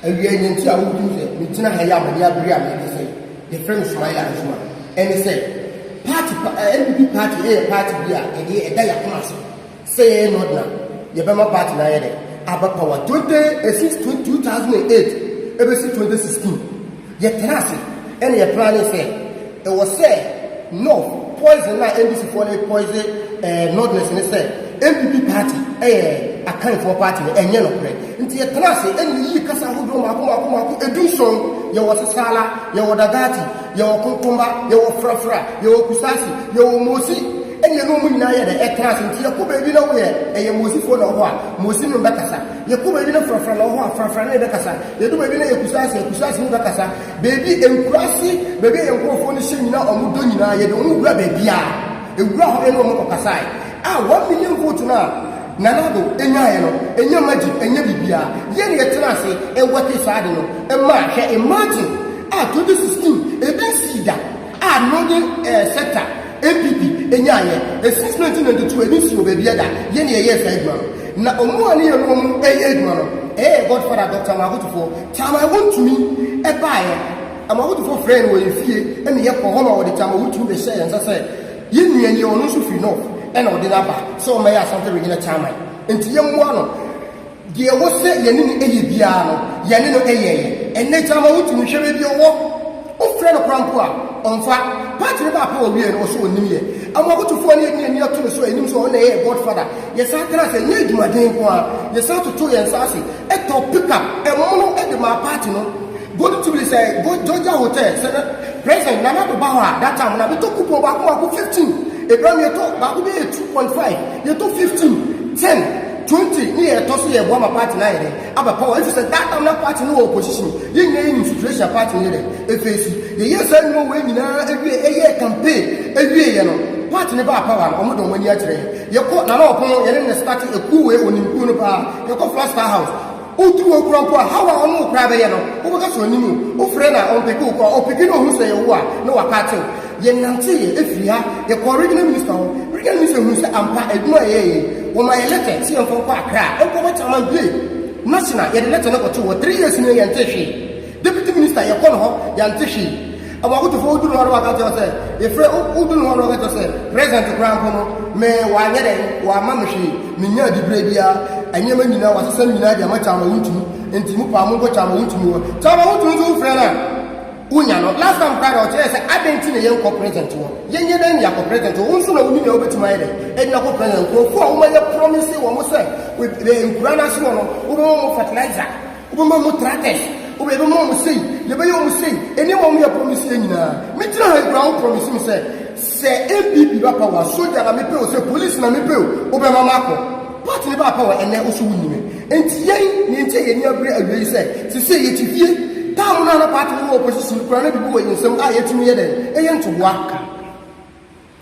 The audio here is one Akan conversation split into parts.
awia yɛn ti a wotum sɛ megyina ha yi a mede abere a mede sɛ yɛfrɛ no sumayɛ adwuma ɛne sɛ party npp party ɛyɛ party bi a ɛde ɛda yɛakoma ase Sei no na yɛbɛma bat no ayɛ dɛn? Abɛpaw a. Twenty since twenty two thousand and eight ebesi twenty sixteen, yɛtraa ase na yɛ plane sɛ ɛwɔ sɛ North poison na NDC foɔ no poison ɛɛ Northerners ne sɛ NPP party ɛyɛ Akan foɔ party no ɛnyɛ nokorɛ. Nti yɛtraa ase na yɛyii kasa ahodoɔ mako mako mako edu nson. Yɛwɔ Sesala, yɛwɔ Dagati, Yɛwɔ Konkomba, yɛwɔ Frafra, yɛwɔ Kusasi, yɛwɔ Mosi, ɛnna ɛne wɔn nyinaa yɛ dɛ, ɛtra ase. Nti yɛkɔ baabi na woyɛ, ɛyɛ Mosifoɔ na wɔ hɔ a, Mosi ne wo bɛkasa. Yɛkɔ baabi na Frafra na wɔ hɔ a, Frafra ne yɛ bɛkasa. Yɛdu baabi na ɛyɛ Kusasi a, Kusasi ne bɛkasa. Baabi, nkuraase, baabi a yɛn nkurɔfoɔ no hyɛ nyinaa, wɔn dɔ nyinaa, yɛde wɔn wura baabiara. Yɛwura hɔ ne wɔn kɔkasaeɛ. A one million vote no a Nana Addo nyaeɛ no, ɛnyɛ magic, ɛnyɛ biribiara. Yɛn na yɛtena ase, ɛwɛte saa ade no maa, hwɛ, imagine! A twenty sixteen ebi nsii da a no nye eh sector npp enyaayɛ eh since nineteen ninety two ebi nsii wɔ baabiaa da yɛ na yɛyɛɛ saa adwuma no na ɔmo a ne yɛne ɔmo ɛyɛ adwuma no eh eh Godfather Doctor Amoakotofoɔ Taamaa wontumi ɛbaayɛ Amoakotofoɔ frɛɛ no wɔ yɛn fie ɛna yɛ kɔɔ hɔ ma wɔde Taamaa Wotumi bɛhyɛɛ yɛn nsa sɛ yɛn nua nie ɔno nso firi North ɛna ɔde no aba sɛ ɔmmɛyɛ Asante Regional Chairman nti yɛmmoa no. Deɛ ɛwɔ sɛ yɛne no yɛ biara no, yɛne no yɛeɛ. Ɛnnɛ gyama wotumi hwɛ baabi a ɔwɔ. Wofrɛ no koraa mpo a, ɔmfa. Part no baako a ɔwieɛ no, ɔse ɔnnim yɛ. Amoakotofoɔ no yɛde yɛn ani ato no so a, yɛnim sɛ ɔno na ɛyɛɛ Godfather. Yɛsan traa ase, ɛnyɛ adwumaden nko ara, yɛsan totoo yɛn nsa ase tɔɔ pickup, ɛmono, de maa part no. Gold Jubilee sɛ Georgia Hotel, sɛ na President Nana Addo ba hɔ a, that time no, na metɔ coupon baako baako 15, ɛberɛ no yɛtɔ baako bɛyɛ 2.5, yɛtɔ 15, 10. Twenty ne yɛ ɛtɔ so yɛ boa ma party no ayɛ dɛ aba power efisɛ that time na party no wɔ opposition yɛn nyinaa yɛ nim situation a party no yɛ dɛ efeesi yɛ yɛɛ saa nnwuma wei nyinaa ewie ɛyɛɛ campaign ewie yɛ no party no baa power no ɔmo de ɔmo ani akyerɛ yɛn yɛkɔ Nana Ɔpono yɛne no starte ekuo wei onim kuo no paa yɛkɔ Flash Star house Otu wo kura mpo a, how a ɔne wo koraa bɛyɛ no, wobɛka sɛ ɔnim wo. Wofrɛ no a, ɔmpeke wo kɔɔ. Ɔpeke na ohu sɛ ɛyɛ wo a, na wapaakyɛ wo. Yɛnanteeɛ firi ha, yɛkɔɔ Regional Minister hɔ. Regional Minister hunuu sɛ ampa, adwuma a yɛyɛeɛ yi, wɔmaa yɛn lɛtɛ sɛ yɛmfa nkɔ Accra nkɔbɔ Chairman Bie National. Yɛde lɛtɛ no kɔtoo hɔ. Three years nie, yɛntee hwee. Deputy minister yɛkɔ no hɔ yɛnte hwee ɛwɔ ahotofoɔ wodu no hɔ no waka kyɛw sɛ yɛfrɛ wodu no hɔ no waka kyɛw sɛ president koraa mpo no me wanyɛ dɛn wama me hwee menya adibrɛ biara nneɛma nyinaa wasesa ne nyinaa de ama kyama wontumi nti mu paa monkɔ kyama wontumi wɔ kyama wontumi nso wofrɛ no a wonya no last time koraa na ɔkyerɛ sɛ adɛn nti na yɛnkɔ president wɔ yɛnyɛ dɛn ne yɛakɔ president wɔ wo nso na woni na wobɛtumi ayɛ dɛn ɛde nakɔ president nkurɔfoɔ a womayɛ promise wɔ mo sɛ nkura no ase wɔ no wobɛma mo fertilizer Wobɛma wɔn tractors, wobɛ, yɛbɛma wɔn sei, yɛbɛyɛ wɔn sei, nneɛma wɔn yɛ promise yɛ nyinaa. Megyina ha yi koraa wo promise me sɛ, sɛ NPP ba power, soja na mepɛ o, sɛ police na mepɛ o, wobɛma makɔ. Party no baa power, ɛnnɛ wo so wonni me. Enti yɛn, nea enti a yɛn ani abere awie yi sɛ, sesei yɛte fie. Time no a na party no wɔ opposition no koraa na biribi wɔ yɛn nsam a yɛtumi yɛ dɛn, yɛ ntoboa.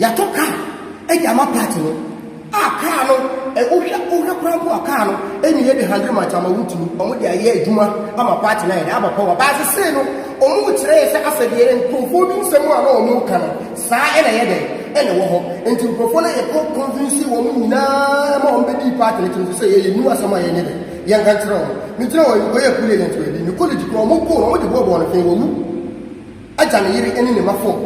Yɛatɔ kaa de ama part no a kaa no ɛ wohwɛ wohwɛ koraa mpo a kaa no ɛnni heavy handling much ama wotumi wɔn de ayɛ adwuma ama part no ayɛ dɛ aba power baa sesei no wɔn rekyerɛ sɛ asɛdeɛ no nkurɔfoɔ bi nsɛm a na wɔn reka no saa ɛna ɛyɛ dɛ ɛna ɛwɔ hɔ nti nkurɔfoɔ no yɛkɔ convince wɔn nyinaa ma wɔn bɛdi part no kyerɛ sɛ yɛyɛ new asɛm a yɛnyɛ dɛ yɛnka nkyerɛ wɔn megyina wɔn yɛ kuli agent wɔ bi ne college koraa wɔn kɔɔ wɔn de bɔɔbɔɔ no fɛn wɔwu Agya ne yere ne ne mma fam.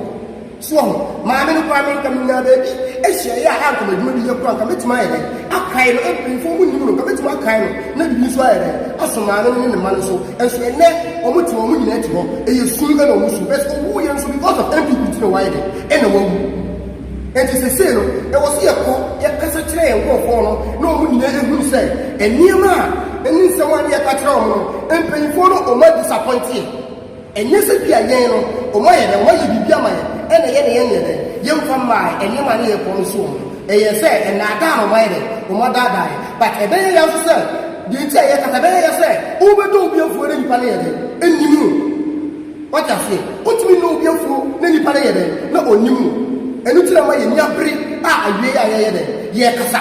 So wahu? Maame no koraa me nka menyaa baabi ahyiaeɛ a anka m'adwuma bi yɛ koraa nka mɛtumi ayɛ dɛn akae no mpanyinfoɔ mu nim no nka mɛtumi akae no na biribi nso ayɛ dɛn aso maame no ne ne mma no so nso ɛnɛ wɔn te wɔn nyinaa ti hɔ ɛyɛ sum ɛna wɔn su bɛs ɔwu yɛ nso because of npp ti na wɔayɛ dɛn ɛna wɔawu nti sese no ɛwɔ so yɛ kɔ yɛ kasa kyerɛ yɛn nkurɔfoɔ no na wɔn nyinaa ehu sɛ nneɛma a ɛne nsɛm a ne yɛ ka kyerɛ wɔn no mpanyinfoɔ no wɔn adisapɔnteɛ Ɛnyɛ sɛ bi a yɛn no wɔn ayɛ dɛn, wɔn ayɛ biribi ama yɛn ɛna yɛn de yɛn nyɛ dɛn, yɛn nfa mmaa nneɛma ne yɛn kɔn nso wɔn. Ɛyɛ sɛ ɛnaadaa na wɔn ayɛ dɛn, wɔn adaadaa yɛn. But ɛbɛyɛ ya nso sɛ, deɛ nti a yɛkasa, ɛbɛyɛ ya sɛ wo bɛ dɔ obi afuo na nipa no yɛ dɛn, ɛnnim wo. Wate aseɛ, wo tumi nɔ obi afuo na nipa no yɛ dɛn, na ɔnnim wo. Ɛno nti na ɛma yɛn ani abere a awieɛ a yɛyɛ dɛn, yɛkasa.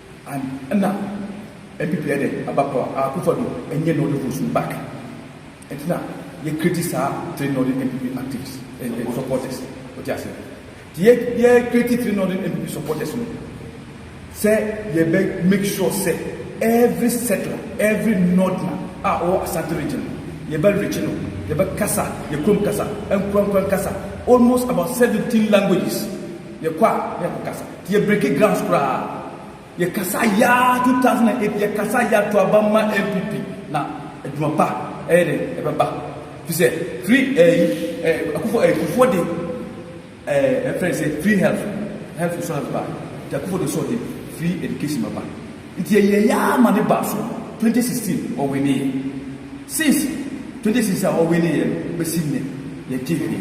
An nna NPP yɛ dɛ aba pa a Akuffo Addo nnyɛ Northern votes no back ntsi na yɛ create saa three Northern NPP activists ɛɛ supporters otse ase ntsi yɛ yɛ create three Northern NPP supporters no sɛ yɛbɛ make sure sɛ every settler every Northerner a ɔwɔ Asante region no yɛbɛ reach no yɛbɛ kasa yɛ kurom kasa nkurankuran kasa almost about seventeen languages yɛkɔ a na yɛkɔ kasa. Yɛ breki grass koraa yɛ kasa yaa 2008 yɛ kasa yaa to aba ma NPP na adwuma pa ɛyɛ dɛ ɛbɛba fi sɛ free ɛyi ɛɛ akufo ɛɛ kufuo de ɛɛ ɛfrɛ sɛ free health health insurance ba nti akufo de sɔ de free education bɛba nti yɛ yɛ yaa ma ne ba so 2016 ɔwe ne yɛ since 2016 a ɔwe ne yɛ no bɛsi ne yɛ gye hwee.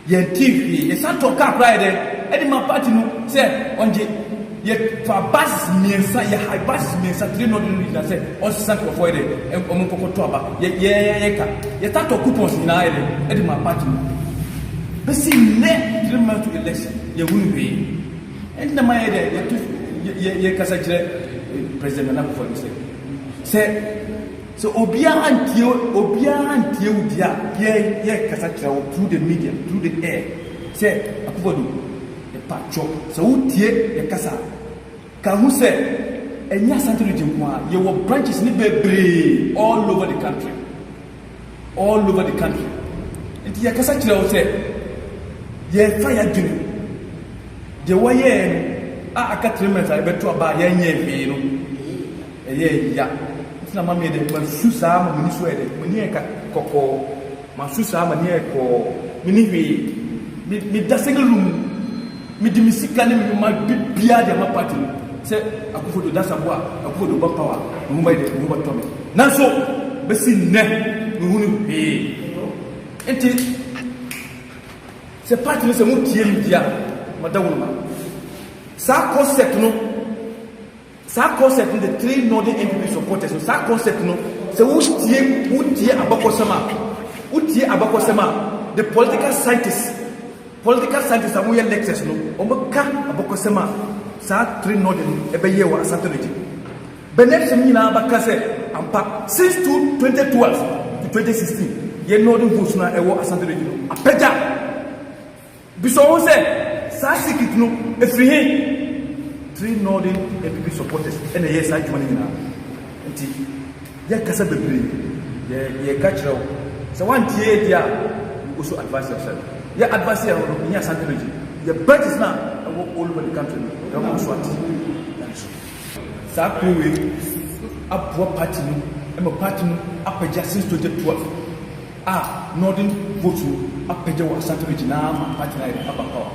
Yɛntee hwee. Yɛsan tɔɔ kaa koraa yɛ dɛn de maa party no sɛ ɔngye. Yɛfaa buses mmiɛnsa, yɛ hire buses mmiɛnsa, three na ɔde no gyina sɛ ɔnsesa nkurɔfoɔ yɛ dɛn, wɔn nkɔkɔ tɔ aba. Yɛ, yɛ, yɛ ka. Yɛtaa tɔɔ coupons nyinaa yɛ dɛn de maa party no. Bɛsi nnɛ, three months to election, yɛnhunu hwee. Ɛnti na mayɛ dɛn, yɛto, yɛ, yɛ, yɛkasa kyerɛ President Nana Akufo-Addo sɛ, sɛ. Sɛ obiara antie obiara antie wo deɛ a, yɛn yɛkasa kyerɛ wo through the media, through the air sɛ Akufo-Addo, mpakyɛw sɛ wotie yɛn kasa a, ka ho sɛ ɛnyɛ Asante region nko ara, yɛwɔ branches no bebree all over the country, all over the country. Nti yɛkasa kyerɛ wo sɛ yɛfa yɛadwene deɛ wɔyɛɛ no a aka three months a yɛbɛto aba a yɛnyɛɛ hwee no, Ɛyɛɛ ya, nti na ma meyɛ dɛ, masu saa ma m'ani so ayɛ dɛ, m'ani ayɛ ka kɔkɔɔ, masu saa m'ani ayɛ kɔɔ, menni hwee, me me da Segelum mu, mede me sika ne me nwoma bibiaa de ama party no, sɛ Akuffo Addo da Saboa, Akuffo Addo ba power, me ho bɛyɛ dɛ, me ho bɛtɔ me, nanso besi nnɛ menhunu hwee, nti sɛ party no sɛ mo tie me di a, ma da wo no ma saa concept no. Saa concept no de three northern NPP supporters no saa concept no sɛ wo tie wo tie abakɔsɛm a wo tie abakɔsɛm a the political scientists political scientists a wɔn yɛ lectures no wɔn bɛ ka abakɔsɛm a saa three northern no ɛbɛ yɛ wɔ asante no gye bɛnɛ sɛm nyinaa bɛ ka sɛ ampa since two twenty two to twenty sixteen yɛ northern votes na ɛwɔ asante no gye no apɛgya. Bisa wo ho sɛ, 'Saa sikit no, efiri he? Three Northern npp supporters na ɛyɛɛ saa adwuma no nyinaa. Nti yɛkasa bebree, yɛka kyerɛ wo. Sɛ woantie yɛ deɛ a, you also advise yourself. Yɛ advise yɛ no, yɛnyɛ Asante Region. Yɛ branches no a ɛwɔ all over the country no, yɛbɛma wo so ate. Nyame som. Saa kuo wei aboa party no ma party no apagya since 2012. a Northern vote no apɛgya wɔ Asante region naa ma party naa yɛde aba power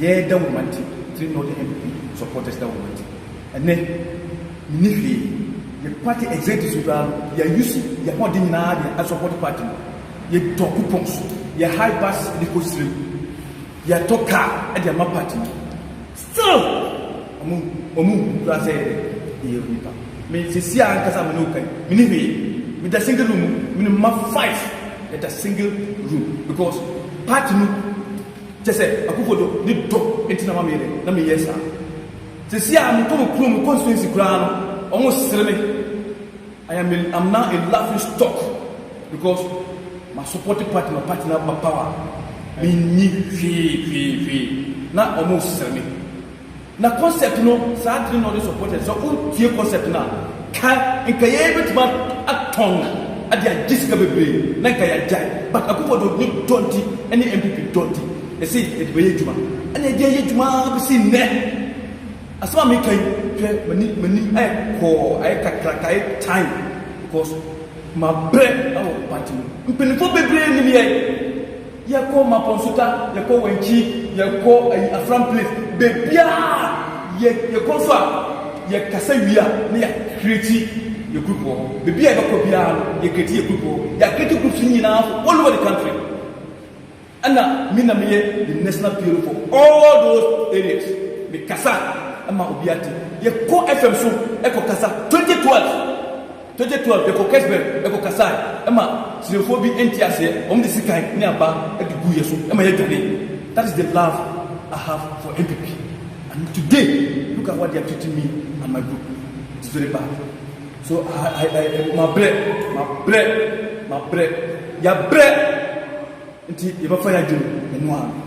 yɛɛ da wɔ Mante three Northern NPP supporters da wɔ Mante ɛnɛ menni hwee yɛ party executives no koraa no yɛ use yɛ hɔden nyinaa de a support party no yɛ tɔ coupons yɛ high bus de kɔ sire mu yɛ tɔ car de ama party no. Still ɔmo ɔmo hu koraa sɛ yɛyɛ nnipa. Me sesie a ankasa a me ne wo ka yi, me ni hwee. Me da single room mu, me ne mma five yɛ da single room because party no kyɛ sɛ Akuffo Addo ne dɔ nti na ma me yɛ dɛ na me yɛ saa. Sesie a me kɔ me kurom, me constituency koraa no ɔmo sere me. I am a am now a laughing stock because ma supporting party ma party no aba power me nni hwee hwee hwee na ɔmo sere me na concept no saa dene na ɔde support yɛ sɛ ɔntie concept no a ka nka yɛn bɛtuma atɔn ade agye sika bebree na nka yɛagyae but akufo do ne dɔnti ne mpp dɔnti yɛse yɛde bɛyɛ adwuma ɛna yɛde ayɛ adwuma bɛsi nnɛ Asɛm a meka yi, hwɛ m'ani m'anim ayɛ kɔɔ, ayɛ kakraka, ayɛ tan because mabrɛ wɔ party mu. Mpanyinfoɔ bebree nim yɛn. Yɛkɔ Mapon Suka, yɛkɔ Wankyi, yɛkɔ ayi Afram place, bebiaa yɛ yɛkɔ nso a yɛkasa wie a na yɛ create yɛ group wɔ hɔ. Bebiaa yɛbɛkɔ biaa no yɛ create yɛ group wɔ hɔ. Yɛ create groups no nyinaa all over the country. Ɛna me na meyɛ the national PRO for all those areas, me kasa ma obiara te. Yɛ kɔ FM so kɔ kasa, twenty twelve, twenty twelve yɛ kɔ Kesberg kɔ kasae ma Siremfoɔ bi nte aseɛ, wɔn de sikan ne aba de guu yɛ so ma yɛ dwane, that is the love I have for NPP and today look at what they are treating me and my group, it is very bad so I I I mabrɛ, mabrɛ, mabrɛ, yɛabrɛ. Nti yɛbɛfa yɛ adwene mu ɛno ara no.